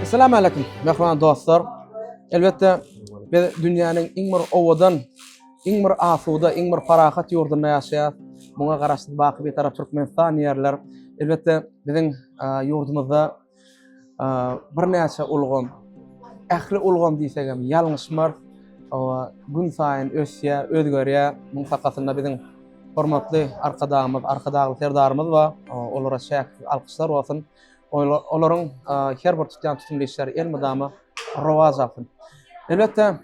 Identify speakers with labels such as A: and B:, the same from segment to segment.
A: Assalamu aleykum, mehriban dostlar. Elbetde biz dünýäniň iň bir owadan, iň bir asuda, iň bir parahat ýurdunda ýaşaýar. Muňa garaşsyz baky bir tarap Türkmenistan ýerler. Elbetde biziň ýurdumyzda birnäçe ulgam, ähli ulgam diýsegem ýalňyşmarys, gün saýyn ösýär, özgerýär. Munuň sakasynda biziň hormatly Arkadagymyz, Arkadagly Serdarymyz bar. Olara çäksiz alkyşlar bolsun. Olaryň her bir tutýan tutumly işleri elmydama rowaç alsyn. Elbetde,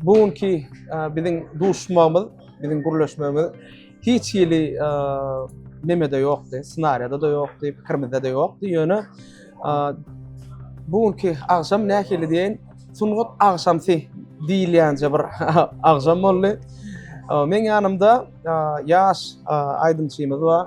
A: bu günki biziň duşmagymyz, biziň gürleşmegimiz hiç hili nemede ýokdy, ssenariýada-da ýokdy, pikirimizde-de ýokdy. Ýöne bu günki agşam nähili diýen sungat agşamsy diýilýänje bir agşam boldy. Meň ýanymda ýaş aýdymçymyz bar.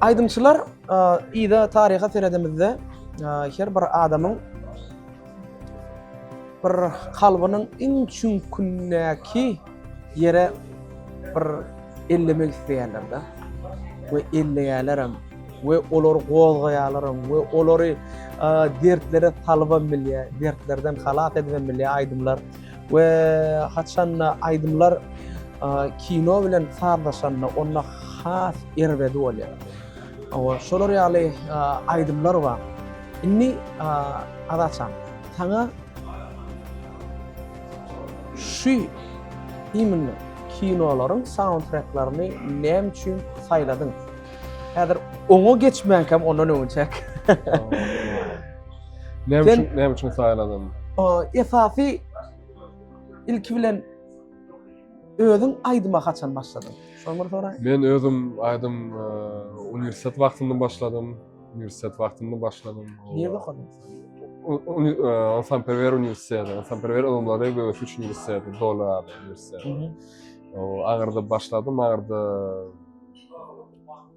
B: Aýdymçylar
A: yza taryha seredemizde her bir adamyň bir kalbynyň iň çüňkündäki ýere bir ellemek isleýärler-de we elleýärlerem we olary gozgaýarlaram we olary dertlere salybam bilýär, dertlerden halas edibem bilýär aýdymlar. We haçanda aýdymlar kino bilen sazlaşanda onda has erbedi bolýar. Owa, şolar ýaly aýdymlar bar. Indi Azatjan, saňa şu iýminde kinolaryň saundtreklerini näme üçin saýladyň? Häzir oňa geçmänkäm ondan öňe çek.
B: Näme üçin, näme üçin saýladym? Esasy
A: ilki bilen özüň aýdyma haçan başladyň? Şony bir soraýyn. Men özüm
B: aýdym e, uniwersitet wagtynda başladym. Uniwersitet wagtynda başladym.
A: Nirde okadyň? Onsan e,
B: Perwer uniwersiteti, Onsan Perwer ylymlary we ösüş uniwersiteti, Dola ady uniwersiteti. O Agyrda başladym, Agyrda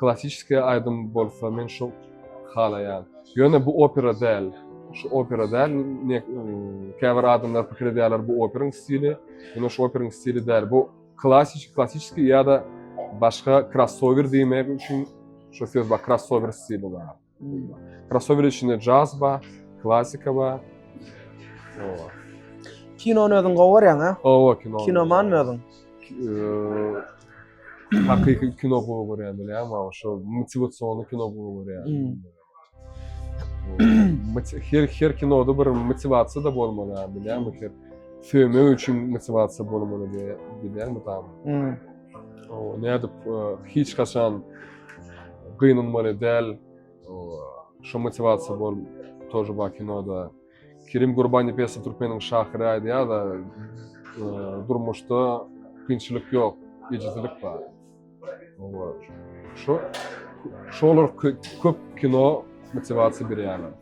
B: Klassiskiý aýdym bolsa men şo halaýan. Ýöne bu opera däl. Şu opera däl. Ne käbir adamlar pikir edýärler bu operyň stili. Ýöne şu operyň stili däl. Bu klassik, klassiskiý ýa-da başga krossower diýmek üçin şo söz bar, krossower stili bar. Krossower içinde jazz bar, klasika bar. Owa.
A: Kinony özüň gowy görýäň, ha? Owa, kino. Kinoman
B: özüň. Hakyky kino gowy görýän bilýän, ma şo motiwasionly kino gowy görýän. Her her kinoda bir motiwasiýa da bolmaly, bilýän, bu her söýmek üçin motiwasiýa bolmaly diýýän, bilýän, bu tam. nädip hiç haçan gynanmaly däl şu motivasiýa bol тоже bar kinoda kirim gurbani pesi türkmeniň şahyry aýdýar da durmuşda kynçylyk ýok ejizlik bar şu şolar köp kino motivasiýa berýärler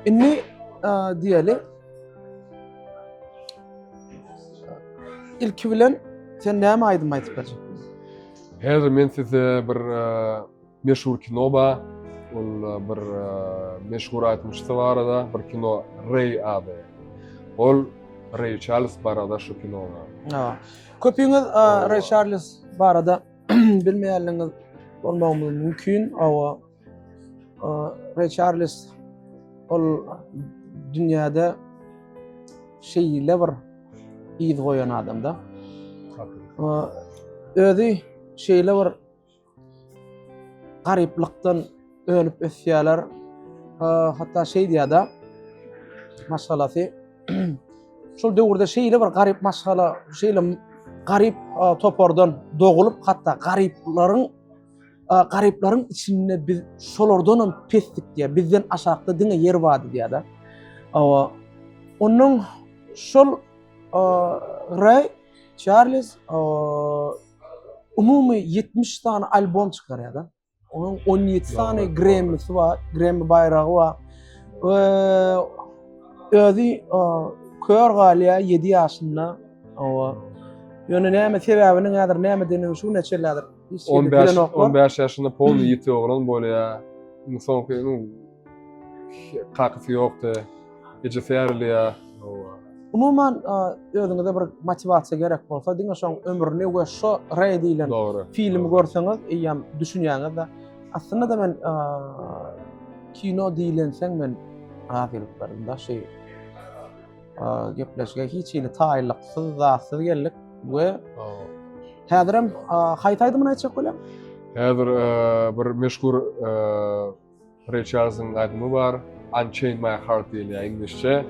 A: Indi diýeli. Ilki bilen sen näme aýdym aýdyp berjek? Häzir
B: men size bir meşhur kino bar. Ol bir meşhur aýdymçysy barada bir kino Rey ady. Ol Rey Charles barada şu kino. Ha.
A: Köpüňiz Rey Charles
B: barada
A: bilmeýänligiňiz bolmagy mümkin. Awa Ray Charles ol dünýäde şeýle bir yz goýan adamda. Özi şeýle bir garyplykdan Önüp ösýärler. Hatda şeý diýýärdi. Maşgalasy şol döwürde şeýle bir garyp maşgala, şeýle garyp topardan dogulyp, hatda garyplaryň garyplaryň içinde biz şolardan hem pesdik diýär. Bizden aşakda diňe ýer bar diýýärdi. Awa. Onuň şol Ray Charles umumy 70 sany albom çykarýardy. Onuň 17 sany Grammy-si bar, Grammy baýragy bar. We özi kör galýar 7 ýaşynda. Owa. Ýöne näme sebäbini häzir nämedigini şu neçe ýyldyr hiç kim bilenoklar.
B: 15 ýaşynda pol ýiti oglan bolýar. Muň soňky Kakasy ýokdy. Ejesi ýarylýar. Umuman
A: özüňize bir motiwasiýa gerek bolsa, diňe şoň ömrüni we şo Re diýlen filmi görseňiz, eýýäm düşünýäňiz-de. Aslynda-da men kino diýlenseň men razylyk berdim da şu gepleşige hiç hili taýynlyksyz, zatsyz geldik we häzirem haýsy aýdymyny aýtjak bolýaň? Häzir
B: bir meşhur Reçarzyň aýdymy bar, Unchain my heart diýilýär iňlisçe.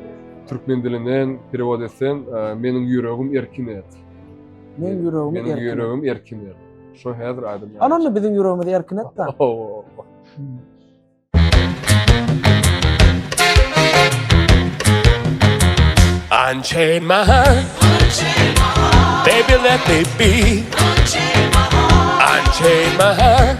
B: Türkmen dilinden perewod etsem, Meniň ýüregim erkin et. Meniň ýüregim
A: erkin. Meniň ýüregim erkin
B: et. Şo häzir aýdym. Ana onda biziň ýüregimizi
A: erkin et da. Unchain my heart.
C: Unchain my heart. Baby let me be. Unchain my heart. Unchain my heart.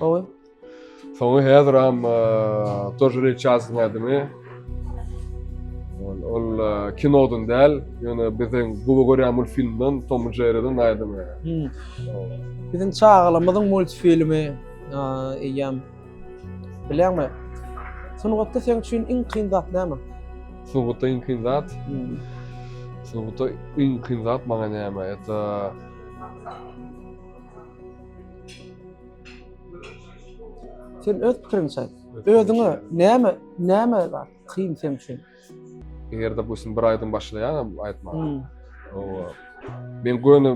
C: Gowy.
A: Soňy
B: häzir hem Tojun Ilçasyň adyny ol kinodan däl, ýöne biziň gowy görýän multfilmden Tom and Jerry'den aýdym.
A: Biziň çagalymyzyň multfilmi eýýäm bilýäňmi? Sungatda seň üçin iň kyn zat näme? Sungatda iň
B: kyn zat? Sungatda iň kyn zat maňa näme? Ýa-da
A: Sen öz pikiriňçe aýt. Özüňe näme näme bar kyn sen üçin? Eger
B: dopustim bir aýdym başlaýanam aýtmaga. Hmm. Owa. Men göni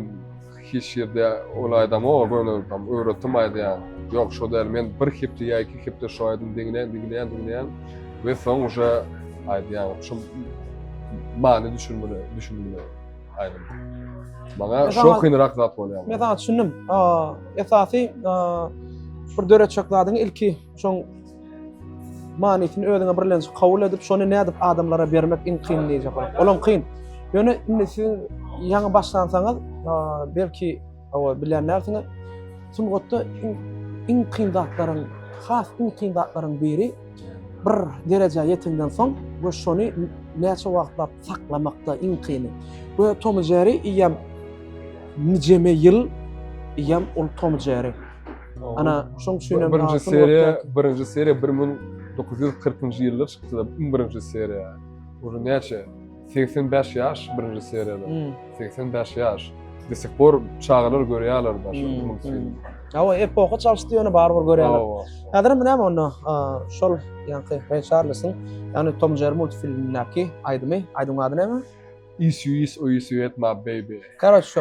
B: hiç ýerde ol aýdam o göni tam öwretdim aýdýan. Ýok, şo däl. Men bir hepde ýa iki hepde şu aýdym diňleýän, diňleýän, diňleýän we soň uje aýdýan. Şu many düşünmeli, düşünmeli. Aýdym. Maňa Mesela- şo kynrak zat bolýar. Mesela düşündim.
A: Aa, Esasy aa, bir döretjek zadyň ilki şoň manysyny özüňe birlenç kabul edip, şony nädip adamlara bermek iň kyn diýjek bolar. Olam kyn. Ýöne indi siz ýaňy başlansaňyz, aa, belki owa bilenlersiňiz. Sungatda iň, iň kyn zatlaryň, has iň kyn zatlaryň biri bir derejä ýetenden soň we şony näçe wagtlap saklamakda iň kyny. Bu Tom Jerry iýem nijeme ýyl iýem ol Tom Jerry. Ana şoň üçin hem birinji seriýa, birinji
B: seriýa 1940-njy ýylda çykdy da, iň birinji seriýa. Ol näçe? 85 ýaş birinji seriýada. Seksen bäş ýaş. Do sih por çagalar görýärler da şu Hmm, multfilmi. hmm. Hawa, epoha
A: çalyşdy ýöne barybir görýärler. Hawa. Häzir hem näme onda a, şol ýaňky Ray Charlesyň, ýagny Tom Jerry multfilmindäki aýdymy, aýdymyň ady näme? Is you is
B: or is you at my baby. Karoç şu.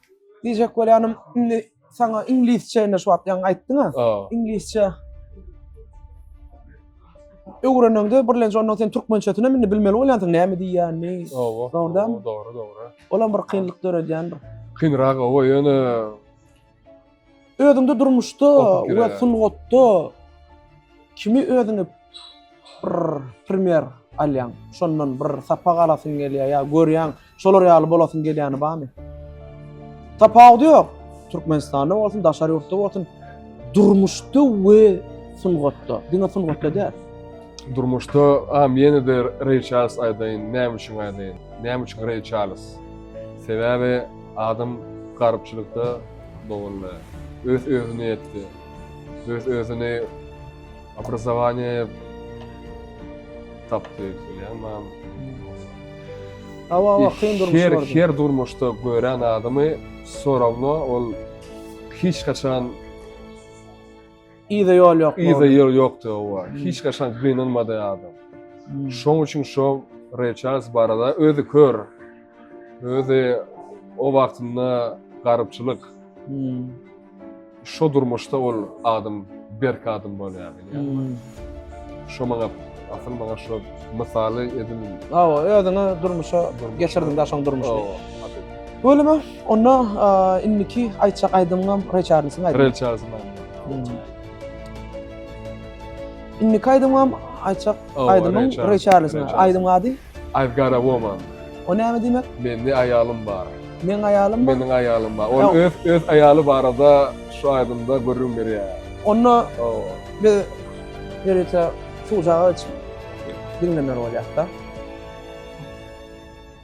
A: Diýjek bolýanym, indi saňa iňlisçe indi şu wagt ýaňy aýtdyň-a. Iňlisçe öwreneňde birlenç ondan sen türkmençesini hem indi bilmeli bolýansyň näme diýýänini. Oba. Dogrudanmy? Dogry, dogry. Olam bir kynlyk döredýändir.
B: Kynrak oba ýöne
A: Özüňde durmuşda we
B: sungatda
A: kimi özüňe bir primer alýaň? Şondan bir sapak alasyň gelýär ýa görýäň, şolar ýaly bolasyň gelýäni barmy? Tapawudy ýok. Türkmenistanda bolsun, daşary ýurtda bolsun, durmuşda we sungatda. Diňe sungatda däl. Durmuşda,
B: a men de Ray Charles aýdaýyn, näme üçin aýdaýyn? Näme üçin Ray Charles? Sebäbi adam garypçylykda Dogruly, öz-özüne ýetdi. Öz-özüni obrazowanýaýa tapdy diýýärmem.
A: Hawa, kyn durmuş Her, gördüm. her durmuşda
B: gören adamy sorawna ol hiç haçan
A: Yza ýol ýok. Yza ýol ýokdy owa.
B: Hiç gaçan gynanmady adam. Şoň üçin şo Ray Charles barada özi kör. Özi o wagtynda garypçylyk. Şo durmuşda ol adam berk adam bolýar. Şo maňa asyl maňa şo mysaly edil. Hawa özüňi
A: durmuşa geçirdiň-de şoň durmuşyny. Hawa.
B: Bolýamy?
A: Onda indiki aýtjak aýdymym Ray Charles'yň aýdymy. Ray Charles'yň
B: aýdymy.
A: Indiki aýdymym aýtjak aýdymym Ray Charles'yň aýdymy ady I've got a woman.
B: O näme diýmek?
A: Mende aýalym
B: bar. Meň aýalym bar. Meniň
A: aýalym bar. Ol
B: öz öz aýaly barada şu aýdymda gürrüň berýär. Onda biz
A: ýörite suwjaga diňlemer bolýar-da.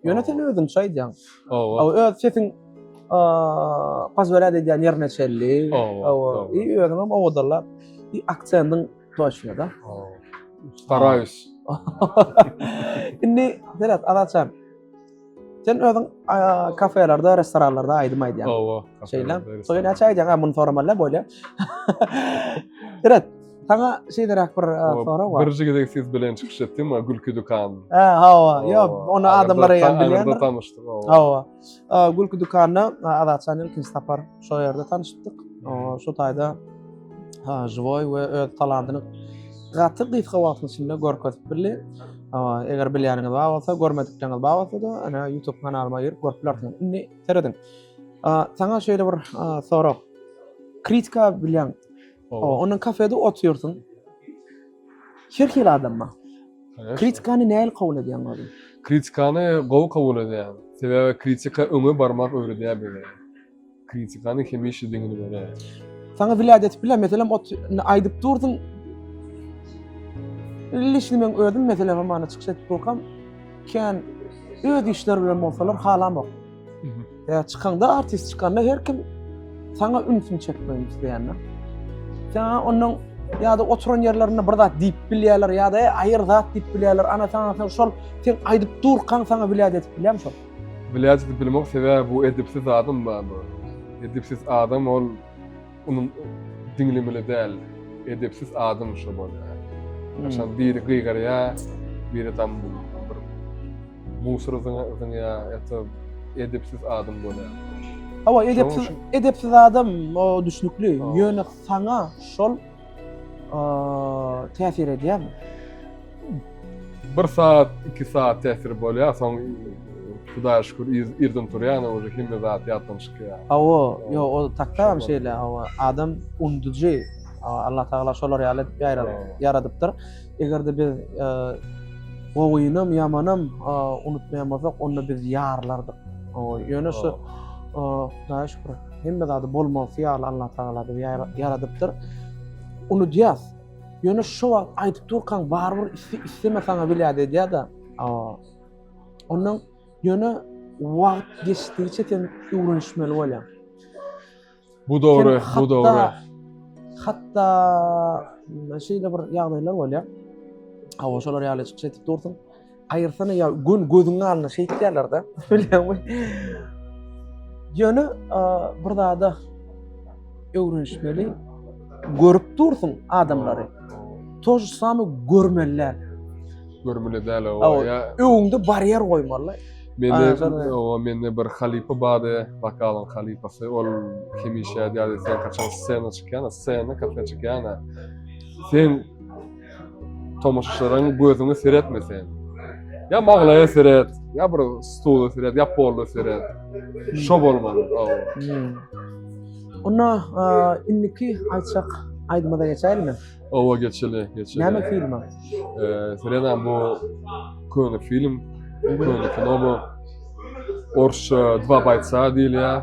A: Ýöne sen özüňçe aýdýaň. Hawa. Öz
B: sesiň
A: pozwelýat edýän ýerine çenli. Hawa. I
B: özüň hem owadanlap,
A: i aksendiň toçny da. Hawa. Staraýus. Indi Berat Alaçan. Sen özüň kafelerde, restoranlarda aýdym aýdýaň. Hawa. Şeýle.
B: Soňra
A: näçe aýdýaň? Ha, muny soraman bolýar. Berat, Saňa şeýleräk bir e, sorag bar. Birinji gezek siz bilen çykyş
B: etdim, gülki dükan. Ha, hawa, ýa,
A: onu adamlar hem bilýär. Onda tanışdyk. Hawa. Gülki dükanyna Azat Şanyň ikinji sapar şu ýerde tanışdyk. Şu taýda ha, żywoý we öz talantyny gaty gysga wagtyň içinde görkezip bildi. Eger bilýäniňiz bar bolsa, görmedikleriňiz bar bolsa da, ana YouTube kanalyma girip görüp bilersiňiz. Indi serediň. Saňa şeýle bir sorag. Kritika bilýän Oba. Onuň kafede otyrsyň. Her hili adam bar. Kritikany nähili kabul edýäň özüň? Kritikany
B: gowy kabul edýän. Sebäbi kritika öňe barmak öwredýär bize. Kritikany hemişe diňini berýär. Saňa wlýad
A: edip biler, meselem, ot indi aýdyp dursuň. Lişni men özüm meselem hamana çykyş edip durkam, kän öz işleri bilen bolsalar halamok. Ya çıkanda artist çıkanda her kim sana ünsün çekmeni isteyenler. Sana onun ya da oturan yerlerinde bir zat deyip bilýärler ya da e, ayır zat deyip bilýärler. Ana sana sen şol sen aydıp durkan sana bilýär edip bilýärmi şol? Bilýär edip bilmek
B: sebäbi bu edipsiz adam barmy? Edipsiz adam ol Unuň diňlemeli däl, edepsiz adam şo bolýar. Aşan biri gygarýa, biri tam bir musur zyňýa, ýa-da edepsiz adam bolýar. Hawa,
A: edepsiz, edepsiz adam o düşnükli. Ýöne saňa şol täsir edýärmi?
B: Bir saat, iki saat täsir bolýar, soň Hudaýa şükür, irden turýan, oje hemme zat ýatdan çykýar. Hawa, ýo, o
A: taktam şeýle, hawa, adam unduji. Allah Tagala şolar ýaly edip ýaradypdyr. Eger-de biz gowynam, ýamanam unutmaýan bolsak, onda biz ýarylardyk. Ýöne şu Hudaýa şükür. Hemme zady bolmalysy ýaly Allatagala bizi ýaradypdyr. Unudýas. Ýöne şo wagt aýdyp durkaň barybir isleme saňa welaýat edýär-de. Ondan ýöne wagt geçdigiçe sen öwrenişmeli bolýaň.
B: Bu dogry, bu dogry. Hatda
A: şeýle bir ýagdaýlar bolýar. Hawa, şolar ýaly çykyş edip dursuň. Aýyrsana ýa gün gözüň alny şeýtýärlerde. Bilýärmi? Ýöne bir zada öwrenişmeli. Görüp dursun adamlary. Toş samy görmeliler. Görmeli
B: däl o. Ya öňde barýer
A: goýmaly. Mende o
B: mende bir halipa bardy, vokalyň halipasy. Ol hemişe diýýärdi, sen kaçan scena çykýan, scena kafe çykýan. Sen tomaşaçylaryň gözüňe seretme sen. Ya maglaya seret, ya bir stula seret, ya polla seret. Şo bolmaly. Hmm.
A: Onda e, indiki aýtjak aýdymyza geçäýlimi? Owa geçeli,
B: geçeli. Näme film?
A: Ee, Seredan
B: bu köne film, köne kino bu. Orsça Dva baytsa diýilýär.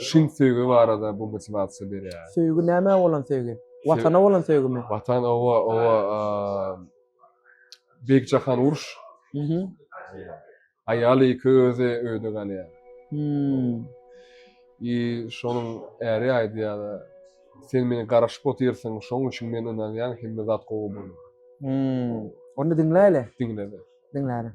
B: Şin söýgi barada bu motiwasiýa berýär. Söýgi näme bolan
A: söýgi? Watana bolan söýgimi? Watan owa owa
B: Beýik Jahan uruş. Mhm. Aýal iki özi öýde galýar. Hmm. I şonuň äri aýdýar, sen meni garaşyp otyrsyň, şonuň üçin men ynanýan hemme zat gowy bolar. Hmm.
A: Onda diňläýle. Diňle. Diňläliň.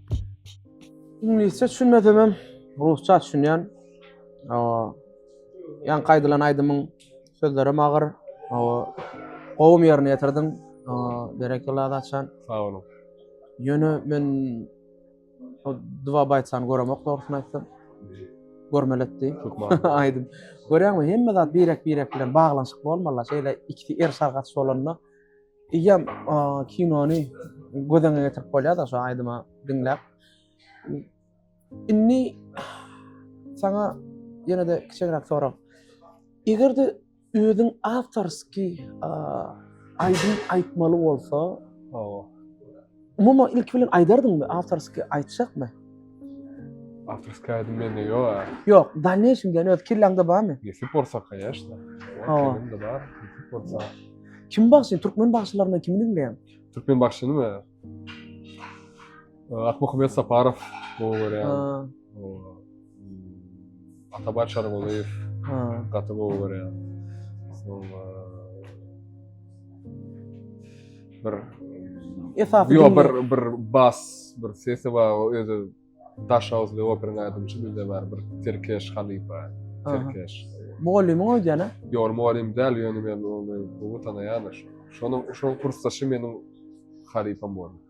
A: Iňlisçe düşünmesem hem rusça düşünýän. Ýaňky aýdylan aýdymyň sözleri hem agyr. Gowum ýerine ýetirdiň. Berekella Azatjan. Sag boluň.
B: Ýöne
A: men o Dwa Baýtsan göremok dogrusyny aýtsam. Görmeli etdi. Aýdym. Görýäňmi? Hemme zat birek-birek bilen baglanyşykly bolmaly. Şeýle ikisi er sargaç bolanda Eýýäm kinony göz öňüne getirip bolýar-da şu aýdymy diňläp. Indi saňa ýene-de kiçiräk sorag. Eger-de özüň awtorskiý aýdym aýtmaly bolsa, Umuman ilki bilen aýdardyňmy, awtorskiý aýtjakmy?
B: Awtorskiý aýdym mende ýok. Ýok, dalneýşim
A: diýen öz kelläňde barmy? Nesip bolsa, kanyýeşna.
B: Hawa. Mende bar, nesip bolsa. Kim bagşy,
A: türkmen bagşylaryndan kimi diňleýäň? Türkmen bagşynymy?
B: Akmuhammet Saparow gowy görýän. Ha. Atabar Çargolyýew gaty gowy görýän. Şol bir esasy ýok bir bir bas bir sesi bar o özi daş awzly operin aýdymçy bizde bar bir Tirkeş Halifa Tirkeş Mugallymy
A: goýdýana? Ýok, mugallym däl,
B: ýöne men ony gowy tanaýan. Şonuň şoň kursdaşy meniň halypam boldy.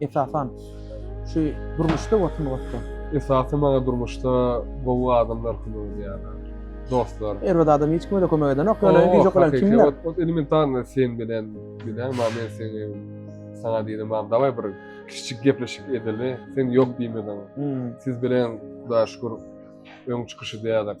A: Esasan şu durmuşda we sungatda.
B: Esasy maňa durmuşda gowy adamlar kömek edýärler. Dostlar. Erbet adam hiç kime-de
A: kömek edenok. Ýöne güýjük bilen kimler? Ot, ot elementarny
B: sen bilen bilen, ma men seni sana diýdim, ma daway bir kiçijik gepleşik edeli. Sen ýok diýmediň. Hmm. Siz bilen Hudaýa şükür öň çykyş edýärdik.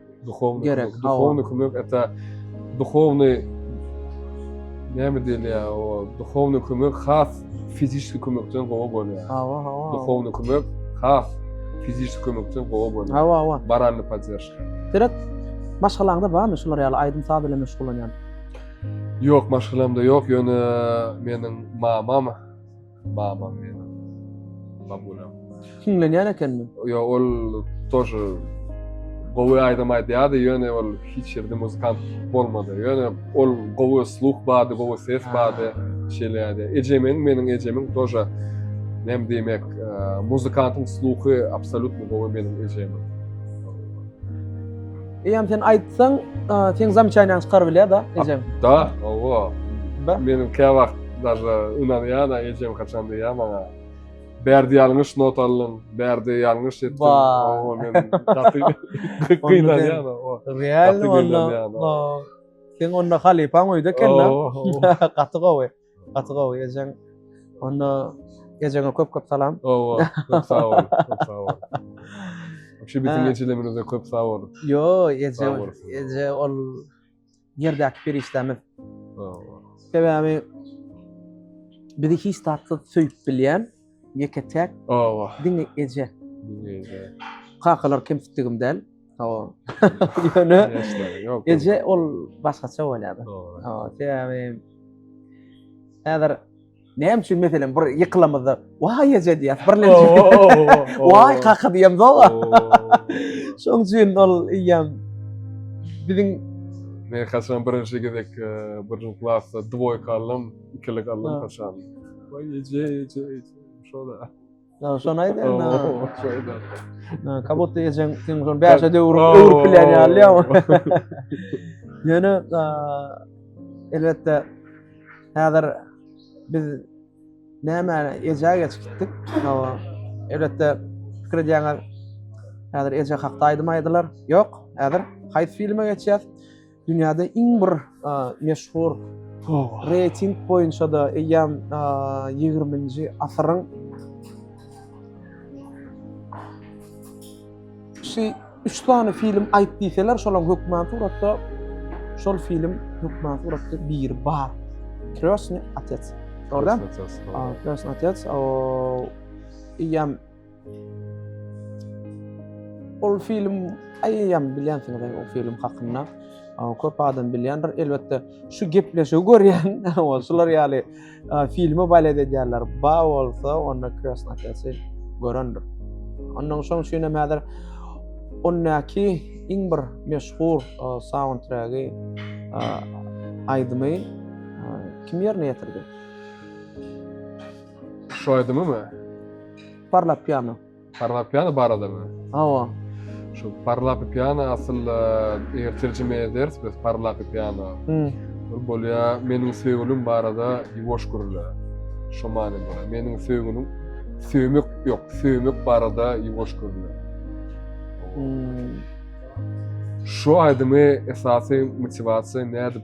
A: Duhownyý gerek,
B: kömek, hawa. duhownyý
A: kömek, ata,
B: duhownyý, näme diýilýär, o, duhownyý kömek has fizişki kömekden gowy bolýar. Hawa, hawa. Duhownyý
A: kömek
B: has fizişki kömekden gowy bolýar. Hawa, hawa. Moralnyý
A: podderžka.
B: Derek,
A: maşgalaňda barmy şular ýaly aýdym-saz bilen meşgullanýan? Ýok,
B: maşgalamda ýok, ýöne meniň mamam, Babam meniň. Babulam. Hiňlenýän
A: ekenmi? Ýo, ol
B: tože gowy aýdym aýdýardy, ýöne ol hiç ýerde muzykant bolmady. Ýöne ol gowy sluh bardy, gowy ses bardy. Şeýleýärdi. Ejemiň, meniň ejemiň tože näme diýmek, e, muzykantyň sluhy absolýutno gowy meniň ejemiň.
A: Eýem sen aýtsaň, sen zamçaýnaň çykar bilýä da, ejem. Da, owa.
B: Da. Meniň
A: kä wagt
B: daşa ünanýa da ejem haçan diýýä maňa. Bärde ýalňyş not aldyň, bärde ýalňyş etdiň. Owa, men gaty gynanýa da. Realno onda.
A: Sen onda halypaň öýde eken da. Gaty gowy. Gaty gowy ejeň. Onda ejeňe köp köp salam. Owa, köp sag
B: bol, köp sag bol. Şu bitin geçilemizde köp sag bol. Yo, eje,
A: eje ol yerdäki perişdemiz. Owa.
B: Sebäbi
A: bizi hiç tatsyz söýüp bilýän Ýeke täk. Owa. Diňe
B: eje. Diňe eje. Kakalar
A: kemsitdigim däl. Hawa. Ýöne
B: eje ol
A: başgaça bolýar. Hawa, sebäbi häzir näme üçin meselem bir ýykylamyzda waý eje diýýär. Birlenip. Waý kaka diýem doga. Şoň üçin ol ýam biziň Men
B: kaçan birinci gezek e, birinci klasda dvoýka aldım, ikilik aldım kaçan. Vay ece ece ece. Şoda. Ya şon
A: aýt indi. Şoda. Na
B: kabotda ejeň
A: sen şon bäşe döwür öwrüp bilen ýaly ýa. Ýöne elbetde häzir biz näme eje geç gitdik. Hawa. Elbetde pikir edýäňiz. Häzir eje hakda aýdym aýdylar. Ýok, häzir haýsy filme geçýäs? Dünýäde iň bir meşhur reýting boýunça-da eýýäm ýigriminji asyryň şu üç sany film aýt diýseler, şolaň hökmän suratda şol film hökmän suratda bir bar. Krýosny otec. Gördün? Krýosny otec. O, eýýäm Ol film aýýam bilýänsiňiz o film hakynda köp adam bilýändir. Elbetde şu gepleşigi görýän şular ýaly filme balet edýärler. Ba bolsa onda Krasnakesi görendir. Ondan şoň üçin hem häzir ondaki iň bir meşhur soundtragi aýdymy kim ýerine ýetirdi?
B: Şu aýdymy mı? Parlap
A: piyano. Parlap piyano
B: barada mı? Hawa.
A: Şu
B: parlap piyano aslında eger tercime ederiz biz parlap piyano. Hmm. Bir bolya menin söýgülim barada yuwaş gürle. Şu many bolya. Menin söýgülim söýmek yok, söýmek barada yuwaş gürle. Hmm. Şu aýdymy esasy motivasiýa nädip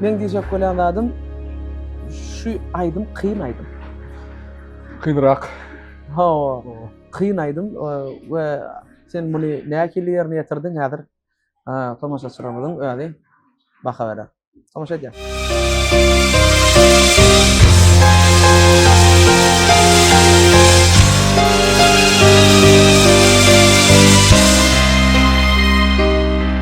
A: Meň diýjek bolýan zadym şu aýdym kyn aýdym.
B: Kynrak.
A: Hawa. Kyn aýdym we sen muny nähili ýerine ýetirdiň häzir tomaşaçylarymyzyň özi baha berer. Tomaşa edýäs.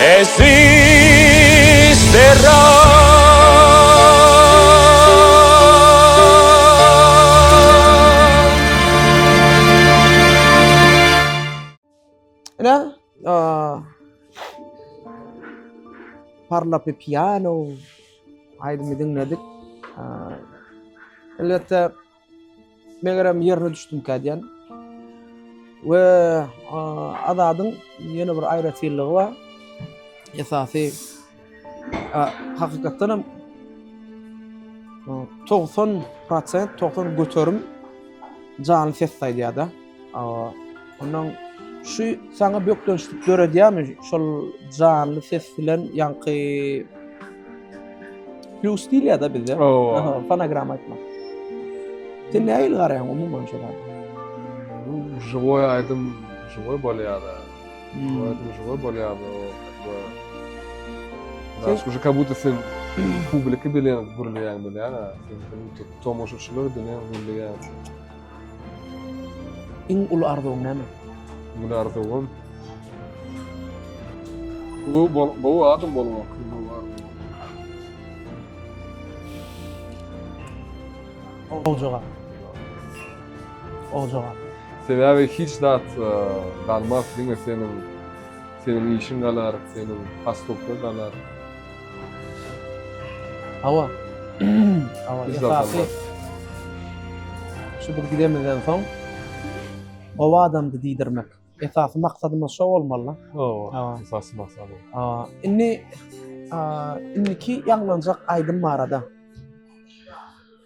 C: Eziz Berat!
A: Parla pe piano aýdymy diňledik. Elbetde Megerem ýerine düşdümkä diýen. We Azadyň ýene bir aýratynlygy bar. Esasy hakykatdan hem 90%, 90 göterim canly ses saýýada. Awa, ondan şu saňa bökdençlik döredýärmi şol janly ses bilen ýaňky plus diýilýär-de bizde. Owa. Fonogram aýtmak. Sen nähili garaýaň umuman şoňa? Bu
B: Joy aýdym, Joy bolýar-da. Hmm. Aýdym Joy bolýar-da. Sen şu kabuta budda sen publika bilen gürleýän bilen, sen tomaşaçylar bilen gürleýän.
A: Iň uly arzuwyň näme? Iň uly arzuwym
B: gowy bol, gowy adam bolmak. Gowy
A: jogap. Gowy jogap. Sebäbi hiç
B: zat e, galmaz, diňe seniň seniň işiň galar, seniň has köpler galar.
A: Hawa.
B: Hawa, esasy.
A: Şu bir gidemizden soň o adamdy diýdirmek. Esasy maksadymyz şo bolmaly. Hawa, esasy
B: maksat. Hawa. Indi
A: indiki ýaňlanjak aýdym barada.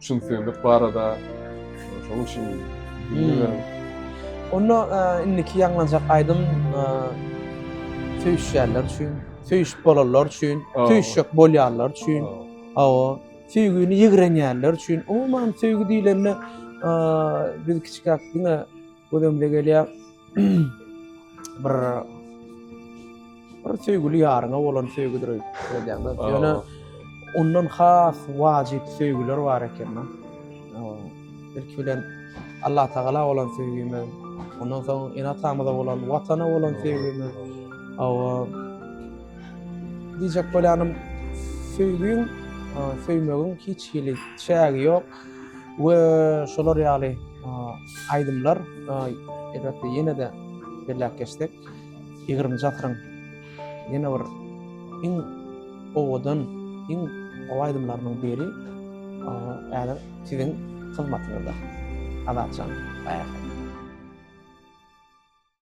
B: Çylsyrlyk barada şoň üçin bilmedim.
A: Onda indiki ýaňlanjak aýdym söýüşýänler üçin, söýüşip bolanlar üçin, söýüşjek bolýanlar üçin. Hawa, söýgini ýigrenýänler üçin. Umuman söýgi diýlende biz kiçikäk diňe Gözümde gelýär bir bir söýgüli ýaryňa bolan söýgüdir öýdýän. Ýöne ondan has wajyp söýgüler bar eken. Belki bilen Allah Tagala bolan söýgümiz, ondan soň ene-atamyza bolan, watana bolan söýgümiz. Awa diýjek bolýanym söýgüň, söýmegiň hiç hili çägi ýok. we şolar ýaly aýdymlar elbetde ýene-de belläp geçsek ýigrimi asyryň ýene bir iň owadan iň gowy aýdymlarynyň biri häzir siziň hyzmatyňyzda Azatjan.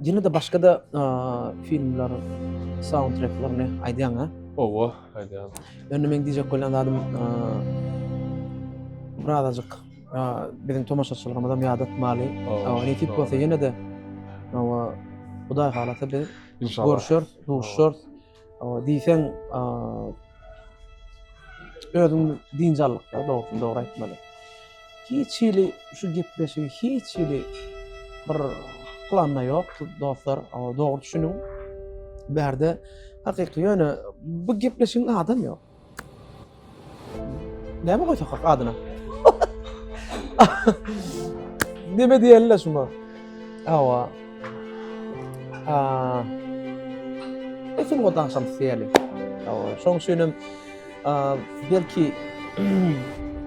A: Ýene de başga da filmler soundtracklerini aýdýaň ha? Owa,
B: aýdýan. Ýöne men diýjek
A: bolýan zadym birazajyk biziň tomaşaçylarymyza ýadatmaly. Ne tip bolsa ýene de owa Hudaý halasa biz görüşer,
B: duşer.
A: diýseň özüm dinjalykda dogrusyny dogry aýtmaly. Hiç hili şu gepleşigi hiç hili bir planda ýok dostlar, dogry düşüniň. Bärde hakyky ýöne bu gepleşigiň adam ýok. Näme goýsak hak adyna? Näme diýeli şuma? Awa. Ha. Esin godan şam diýeli. Awa, şoň üçin hem belki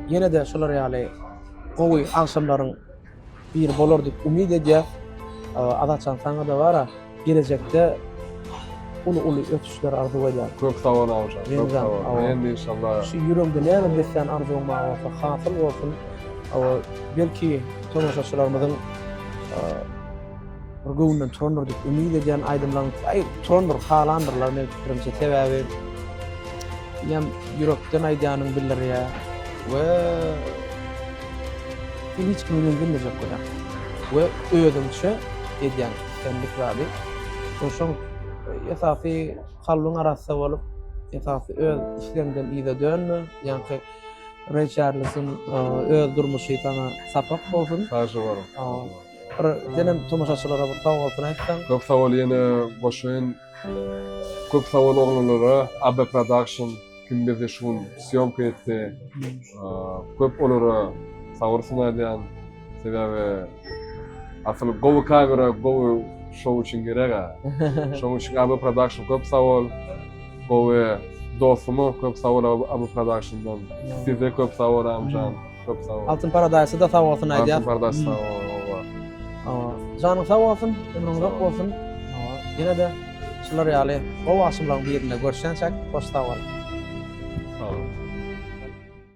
A: ýene-de şular ýaly gowy agşamlaryň Biri bolar diýip umyt edýäs. Azatjan saňa-da bara gelejekde uly-uly ösüşler arzuw edýän. Köp sag bol Awjan. Köp
B: sag bol. Men de inşallah. Şu ýüregiňde näme
A: beslän arzuwyň bar bolsa, hasyl bolsun. Belki tomaşaçylarymyzyň bir göwünden turandyr diýip umyt edýän aýdymlaryň aý turandyr, halandyrlar meniň pikirimçe. Sebäbi ýam ýürekden aýdýanyň bildirýär we sen hiç kimi reňdemejek bolýar. We özüňçe edýän senlik zady. Şoň esasy kalbyň arassa bolup, esasy öz islegiňden yza dönme. Ýaňky Reý Çarlesiň öz durmuşy saňa sapak bolsun. Sagja boluň.
B: Bir
A: senem tomaşaçylara bir sag bolsun aýtsaň. Köp sag bol ýene
B: goşun. Köp sag bol oglanlara Aby production kim bizi şu gün sýomka etdi. Köp olara sabyr synadýan. Sebäbi asyl gowy kamera gowy şou üçin gerega. Şoň üçin Aby production köp sag bol. Gowy dostuma köp sag bol Aby production-dan. Size köp sag bol Abyjan. Köp sag bol. Altyn Paradise da sag bolsun
A: aýdýar. Altyn Paradise
B: sag bol. Janyň
A: sag bolsun, ömrüň uzak bolsun. Ýene de şular ýaly gowy aşymlaryň
B: birinde
A: görşýänçäk, hoş sag bol. Sag bol.